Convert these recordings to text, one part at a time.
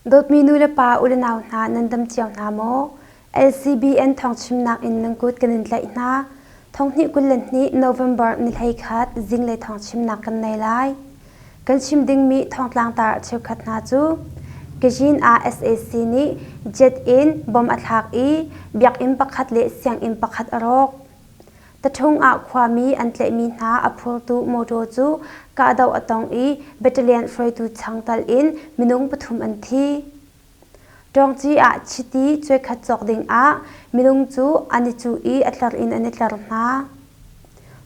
Dawtmi nu le pa unau hna nan dam cio hna maw? LCBN thawngchimnak in nan kut kan in tlaih hna. Thonghnih kul le hnih November ni hlei khat zinglei thawngchimnak kan nei lai. Kan chim dingmi thongtlangtar cheukhat hna cu Kazhin ah sac nih jet in bom a thlak i biakinn pakhat le sianginn pakhat a rawk. Tathung ah khuami an tlaihmi hna a phurtu motor cu kahdoh a tong i battalion hruaitu chang tal in minung pathum an thi. Ṭawngci ah chiti cuekhat cawk dingah minung cu an i cuh i a tlar in an i tler hna.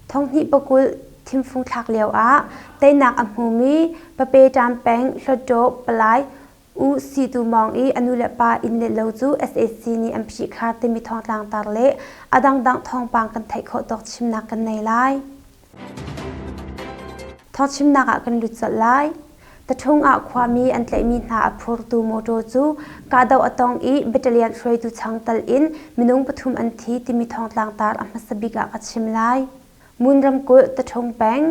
Thonghnih pakulh thimfung thlak lioah teinak a hmumi pape ṭam peng Hluttaw palai U Si Tu Mawng i a nu le pa inn le lo cu sac nih an phihkhar timi thawngtlangtar le a dangdang thawngpang kan theih khawh tawk chimnak kan nei lai. Thawchimnak ah kan lut colh lai. Tathung ah khuami an tlaihmi hna a phurtu motor cu kahdoh a tong i battalion hruaitu chang tal in minung pathum an thi timi thongtlang tar a hmasa bik ah ka chim lai. Mun ramkulh Tathung peng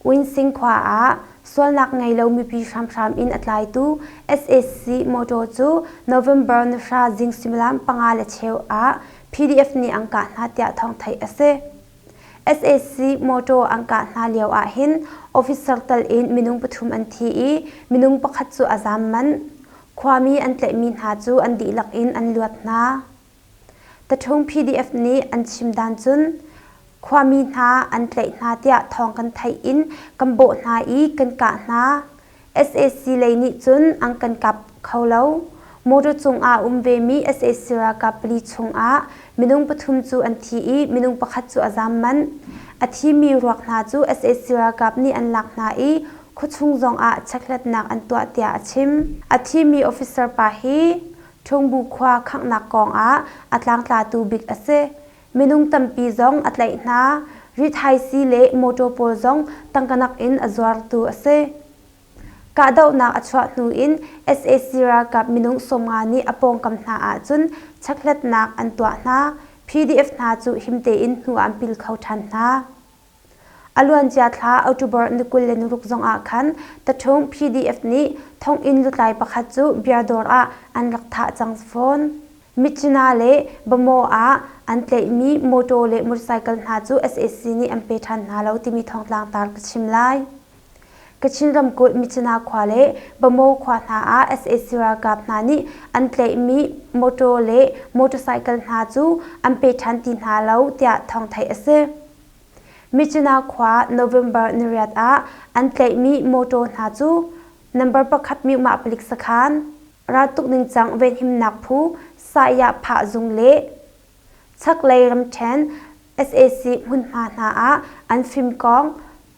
Uinsing khua ah sualnak ngei lo mipi hramhram in a tlaitu SAC motor cu November nihra zing suimilam panga le cheu ah PDF nih an kah hna tiah thawng theih a si. sac motor an kah hna lio ah hin officer tal in minung pathum an thi i minung pakhat cu a zaam manh khuami an tlaihmi hna cu an dihlak in an luat hna taṭhung pdf nih an chim dan cun khuami hna an tlaih hna tiah thawng kan theih in kan bawh hna i kan kah hna sac lei nih cun an kan kap kho lo. Motor cungah um vemi sac ralkap pali chungah minung pathum cu an thi i minung pakhat cu a zaam manh. A thimi ruak hna cu sac ralkap nih an lak hna i khuachung zongah checkhlatnak an tuah tiah a chim. A thimi officer pa hi Ṭhungbu khua khanghnak kongah a tlangtlatu bik a si. Minung tampi zong a tlaih hna. Rithaisi le mawṭaw pawl zong tangka nakin a zuartu a si. Kahdohnak a chuah hnu in sac ralkap minung sawmnga nih a pawngkam hna ahcun checkhlatnak an tuah hna. PDF hna cu him tein hnu ah an pil kho ṭhan hna. A luancia thla October ni kul le naruk zongah khan tathung PDF nih thonginn lutlai pakhat cu biardawr ah an rak thah cang fawn. Michina le Bamaw ah an tlaihmi mawtaw le motorcycle hna cu sac nih an pe ṭhan hna lo timi thongtlangtar ka chim lai. Kachin ramkulh Michina khua le Bamo khua hna ah sac ralkap hna nih an tlaihmi mawṭaw le motorcycle hna cu an pe ṭhan ti hna lo tiah thawng theih a si. Michina khua November niriat ah an tlaihmi mawṭaw hna cu number pakhat mykmah palik sakhan, raltuk ningcang venhimnak phu, Saya Phah Zung le Chaklei ramṭhen sac hmunhma hna ah an fimkawng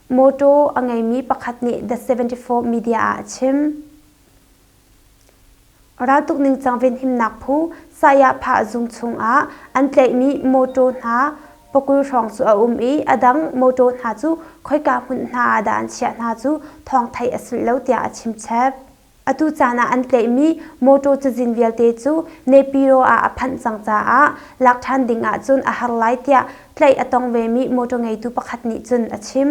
mawṭaw a ngeimi pakhat nih The 74 media ah a chim. Raltuk ningcang venhimnak phu Sayapha zung chungah an tlaihmi mawṭaw hna pakul hrawng cu a um i a dang mawṭaw hna cu khoika hmunhna ah dah an chiah hna cu thawng theih a si lo tiah a chimchep. Atu caan ah an tlaihmi mawṭaw cazin vialte cu Nepiro ah a phanh cang caah lak ṭhan ding ahcun a har lai tiah tlaih a tong vemi mawṭaw ngeitu pakhat nih cun a chim.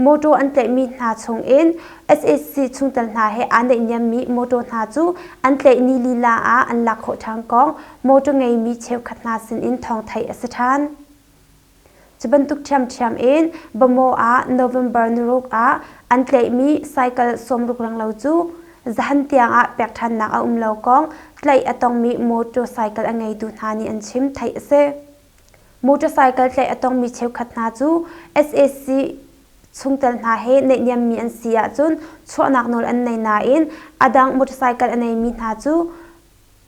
Mawṭaw an tlaihmi hna chungin SAC chungtel hna he aa naihniammi mawṭaw hna cu an tlaihni lila ah an lak khawh ṭhan kong mawṭaw ngeimi cheukhat hna sinin thawng theih a si ṭhan. Cu bantuk ṭhiamṭhiam in Bamaw ah November niruk ah an tleihmi cycle sawmrukrang lo cu zahan tiangah pekṭhannak a um lo kong tleih a tongmi motor cycle a ngeitu hna nih an chim, theih a si. Motorcycle tleih a tongmi cheukhat hna cu SAC chungtel hna he neihniammi an si ahcun chuahnak nawl an nei nain a dang motorcycle a neimi hna cu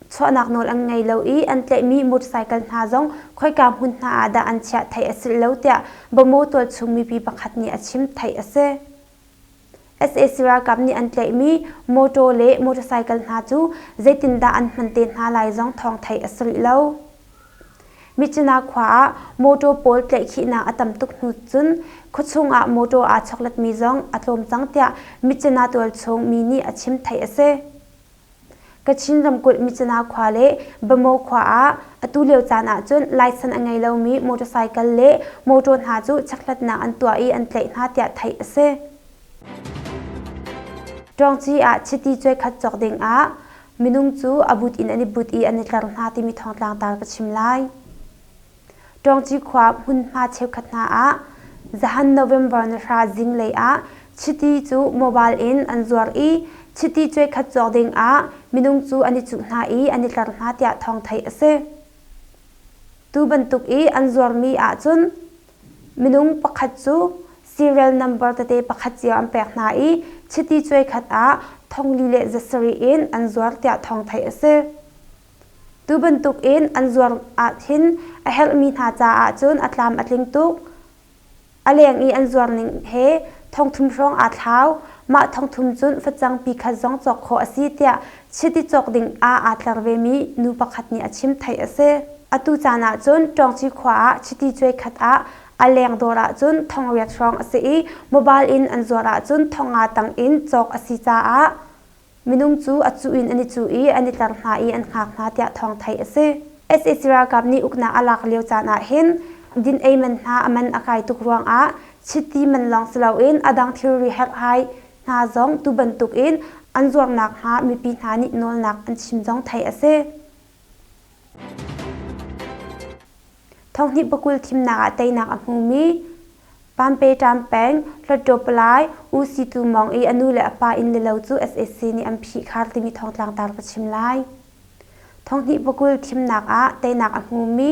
chuahnak nawl an ngei lo i an tlaihmi motorcycle hna zong khoika hmun hna ah dah an chiah theih a si lo tiah Bamo tualchung mipi pakhat nih a chim theih a si. SA ralkap nih an tlaihmi motor le motorcycle hna cu zeitindah an hman te hna lai zong thawng theih a si rih lo. Michina khua ah motor pawl tlaihkhihnak a tam tuk hnu cun khuachung ah motor aa chawkletmi zong a tlawm cang tiah Michina tualchung mi nih a chim theih a si. Kachin ramkulh Michina khua le Bamo khua ah atu lio caan ahcun laisan a ngei lomi motorcycle le mawṭaw hna cu checkhlatnak an tuah i an tlaih hna tiah theih a si. Ṭawngci ah chiti cuaikhat cawk dingah minung cu a but in an i but i an i tler hna timi thawngtlangtar ka chim lai. ṭawngci khua hmunhma cheukhat hna ah zahan November ni hra zinglei ah chiti cu mobile in an zuar i chiti cuaikhat cawk ding ah minung cu an i cuh hna i an i tler hna tiah thawng theih a si. Tu bantuk i an zuarmi ahcun minung pakhat cu serial number tete pakhat cio an pek hna i chiti cuaikhat ah thongli le zasarih in an zuar tiah thawng theih a si. Tu bantukin an zuar ahhin a herhmi hna caah cun a tlam a tling tuk. A leng i an zuarning he thongthum hrawng aa thlau. Mah thongthum cun facangpi khat zong cawk khawh a si tiah chiti cawk ding ah aa tler vemi nu pakhat nih a chim theih a si. Atu caan ah cun Ṭawngci khua ah chiti cuai khat ah a leng dawr ahcun thong riat hrawng a si i mobile in an zuar ahcun thong nga tang in cawk a si caah Minung cu a cuh in an i cuh i an i tler hna i an hngak hna tiah thawng theih a si. sac ralkap nih uknak a lak lio caan ah hin din ei man hna a man a kai tuk ruangah chiti man lawng si loin a dang thilri herhhai hna zong tu bantuk in an zuarnak hnga mipi hna nih nawlnak an chim zong theih a si. Thonghnih pakul thimnak ah teinak a hmumi Pampetaam peng Hluttaw-Palai U Si Tu Mawng i a nu le a pa inn le lo cu sac nih an phih khar timi thawng tlangtar ka chim lai. Thonghnih pakul thimnak ah teinak a hmumi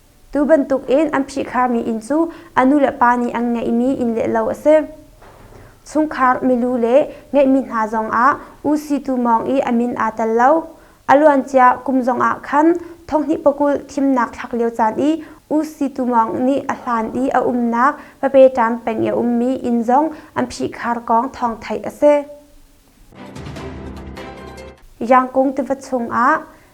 Tu bantukin an phihkharmi inn cu a nulepa nih an ngeihmi inn leh lo a si. Chungkhar, milu le ngeihmi hna zongah U Si Tu Mawng i a min aa tel lo. A luancia kum zongah khan thonghnih pakulh thimnak thlak lio caan i U Si Tu Mawng nih a hlan i a umnak Papeṭam peng i a ummi inn zong an phihkhar kong thawng theih a si. Yangkung tiva chungah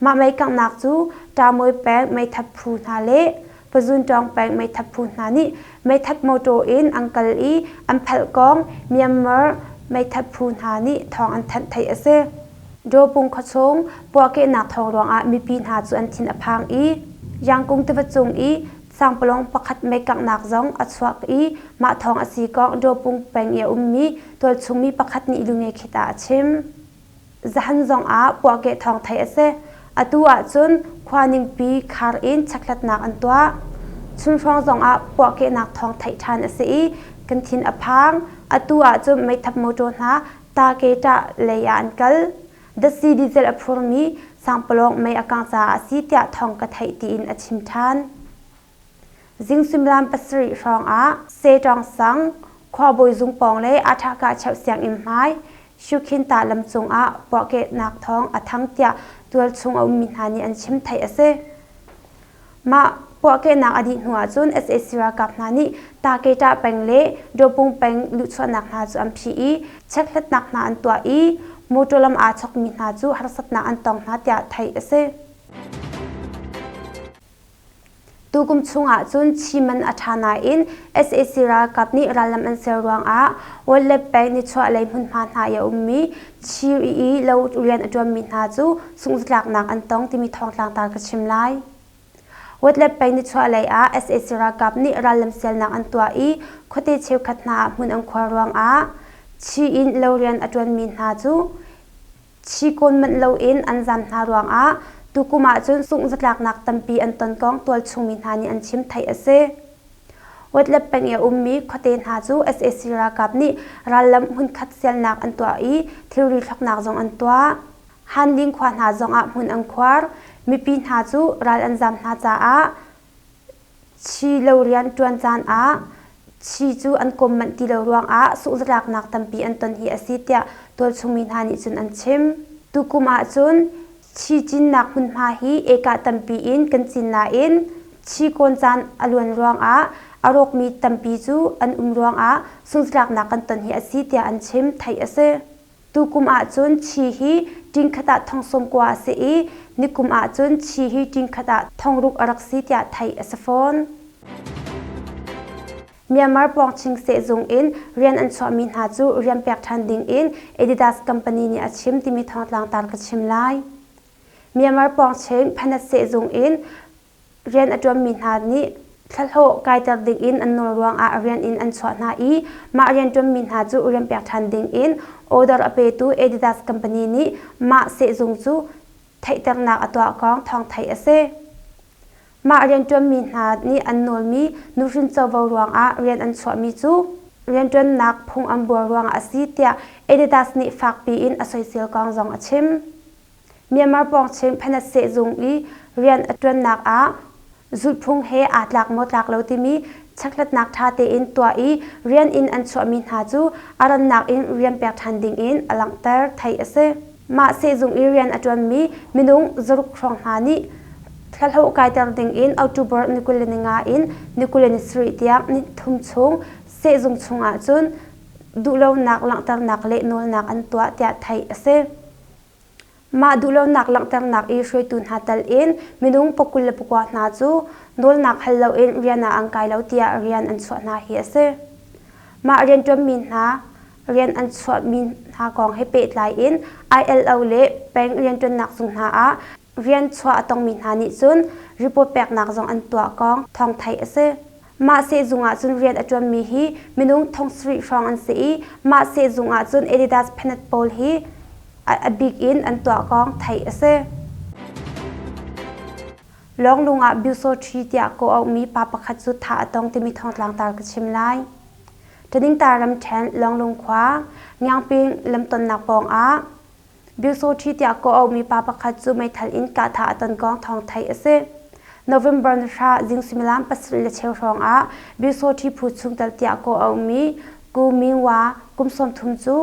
Mah meikanghnak cu ṭaamawi pek meithat phu hna le pazunṭawng pek meithat phu hna nih meithat mawṭaw in an kal i an phalhkawng Myanmar meithat phu hna nih thawng an thanh theih a si. Dawpung khuachung puahkehnak thawng ruangah mipi hna cu an thin a phang i Yangkung tiva cung i sangpalawng pakhat meikanghnak zong a chuak i mah thawng a si kong Dawpung peng i a ummi tualchung mi pakhat nih lungekhit ah a chim. Zahan zongah puahkeh thawng theih a si. Atu ahcun khua ningpi khar in checkhlatnak an tuah. Chunhrawng zongah puahkehnak thawng theih ṭhan a si i kan thin a phang. Atu ahcun meithap motor hna Taketa lei ah an kal. Datsi diesel a phurmi Sangpalawng mei a kangh caah a si tiah thawng ka theih tiin a chim ṭhan. Zing suimilam pasarih hrawngah Setawng sang khuabawi zung pawng le Athakah cheuh sianginn hmai Shukhinta lam cungah puahkehnak thawng a thang tiah tualchung a ummi hna nih an chim theih a si. Mah puahkehnak a dih hnu ahcun sac ralkap hna nih Taketa peng le Dawpung peng luhchuahnak hna cu an phih i checkhlatnak hna an tuah i motor lam aa chawkmi hna cu harsatnak an tong hna tiah theih a si. Tukum chungah cun chim an a ṭha nain sac ralkap nih rallam an ser ruangah Wall le Bank nichuahlei hmunhma hna i a ummi Chiri i lo rian a ṭuanmi hna cu sunglatlaknak an tong timi thawngtlang ta ka chim lai. West le Bank nichuahlei ah sac ralkap nih rallam sialnak an tuah i khuate cheukhat hna ah hmun an khuar ruangah Chi in lo rian a ṭuanmi hna cu Chi kawn manh loin an zam hna ruangah tukum ahcun sungh zatlaknak tampi an ton kong tualchungmi hna nih an chim theih a si. Wetlet peng i a ummi khuate hna cu sac ralkap nih rallam hmunkhat sialnak an tuah i thilri thloknak zong an tuah. Han Ling khua hna zongah hmun an khuar. Mipi hna cu ral an zam hna caah Chi lo rianṭuan caan ah chi cu an kawm manh ti lo ruangah suhzalaknak tampi an ton hi a si tiah tualchungmi hna nih cun an chim. Tukum ahcun chi cinnak hmunhma hi ekah tampi in kan cin nain chi kawn caan a luan ruangah a rawkmi tampi cu an um ruangah suhzalaknak kan ton hi a si tiah an chim, theih a si. Tukum ahcun chi hi ṭingkhat ah thong sawmkua a si i nikum ahcun chi hi ṭingkhat ah thong ruk a rak si tiah theih a si fawn. Myanmar pawngching sehzung in rian an chuahmi hna cu rian pek ṭhan ding in Adidas company nih a chim timi thawngtlangtar ka chim lai. Myanmar pawngching Panat sehzung in rian a ṭuanmi hna nih thlahlawh kaiter dingin an nawl ruangah rian in an chuah hna i mah rianṭuanmi hna cu rianpek ṭhan dingin order a petu Adidas company nih mah sehzung cu theihternak a tuah kong thawngthai a si. Mah rianṭuanmi hna nih an nawlmi nuhrin covo ruangah rian an chuahmi cu rianṭuannak phung an buar ruangah a si tiah Adidas nih fakpi in a soisel kong zong a chim. Myanmar pawng Chin phanat sehzung i rian a ṭuannak ah zulhphung he aa tlak maw tlak lo timi checkhlatnak ṭha tein tuah i rian in an chuahmi hna cu a rannak in rian pek ṭhan dingin a langhter theih a si. Mah sehzung i rian a ṭuanmi minung zaruk hrawng hna nih thlahlo kaiter dingin October ni kul le ni nga in ni kul le ni sarih tiang ni thum chung sehzung chungah cun duhlonak langhternak le nawlnak an tuah tiah theih a si. Mah duhlonak langhternak i hruaitu hna telin minung pakul le pakua hna cu nawlnak hal loin rian ah an kai lo tiah rian an chuah hna hi a si. Mah rianṭuanmi hna rian an chuahmi hna kong he pehtlai in ILO le peng rianṭuannak zung hna ah rian chuah a tongmi hna nih cun report peknak zong an tuah kong thawng theih a si. Mah sehzung ah cun rian a ṭuanmi hi minung thong sarih hrawng an si i mah sehzung ah cun Adidas pennant pawl hi a bik in an tuahkawng theih a si. Lawnglung ah Byusawṭhi tiah kawh aumi pa pakhat cu tha a tong timi thongtlang tar ka chim lai. Thaningtar ramṭhen Lawnglung khua Ngiangping lamtonnak pawng ah Biasoṭhi tiah kawh a ummi pa pakhat cu meithal in kahthah a ton kong thawng theih a si. November ni hra zing suimilam pasarih le cheu hrawngah Biasoṭhi phu chung tal tiah kawh a ummi Ku Myung Wa kum sawmthum cu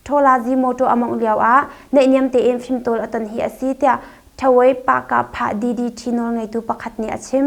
Ṭhawlazi mawṭaw a mawngh lioah naihniam tein fimtawl a ton hi a si tiah Thawei Pahkah Phah DDT nawlngeitu pakhat nih a chim.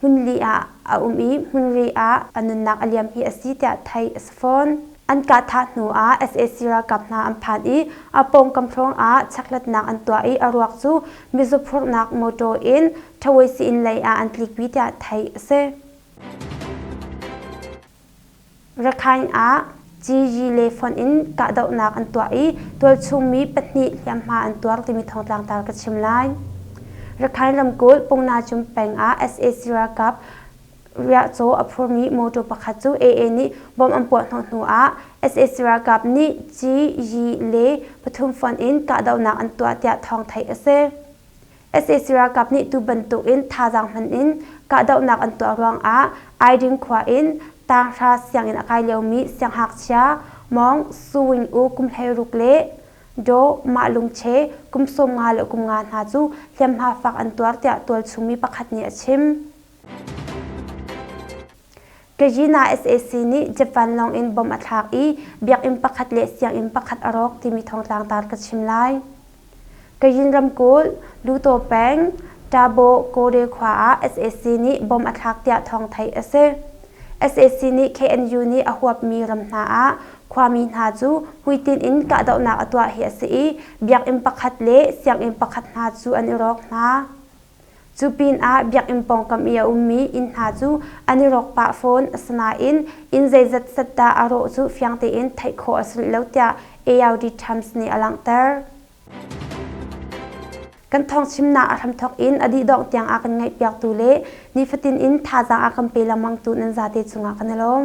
hmunli ah a um i hmunri ah a nunnak a liam hi a si tiah theih a si fawn. An kahthah hnu ah sac ralkap hna an phan i a pawngkam hrawng ah checkhlatnak an tuah i a ruak cu mizu phurhnak motor in Ṭhawei Siin lei ah an tlikpi tiah theih a si. Rakhine ah Gigi le fonh in kahdohnak an tuah i tualchungmi pahnih hliamhma an tuar timi thawngtlang ta ka chim lai. Rakhine ramkulh Pungna Cum peng ah sac ralkap riahcaw a phurmi motor pakhat cu AA nih bomb an puah hnawh hnu ah sac ralkap nih Gigi le pathum fonh in kahdohnak an tuah tiah thawng theih a si. sac ralkap nih tu bantuk in thazaang hman in kahdohnak an tuah ruangah Aiding khua in Tanghra sianginn a kai liomi sianghngakchia Mawng Su Wing U kum hleiruk le Daw Mah Lung Che kum sawm nga le kum nga hna cu hliamhma fak an tuar tiah tualchung mi pakhat nih a chim. Kazina sac nih Japan lawng in bom a thlak i biakinn pakhat le sianginn pakhat a rawk timi thongtlang tar ka chim lai. Kazin ramkulh Luto peng Tabo Kode khua ah sac nih bom a thlak tiah thawng theih a si. sac nih KNU nih a huapmi ram hna ah khuami hna cu hmuitinh in kahdohnak a tuah hi a si i biakinn pakhat le sianginn pakhat hna cu an i rawk hna. Cu pinah biakinn pawngkam i a ummi inn hna cu an i rawk pah fawn. Asinain inn zeizat zat dah a rawh cu fiang tein theih khawh a si rih lo tiah ARD Times nih a langhter. Kan thawngchimnak a hramthawk in a dihdongh tiang a kan ngaihpiaktu le nifatin in thazaang a kan pe lengmangtu nan zate cungah kan i lawm.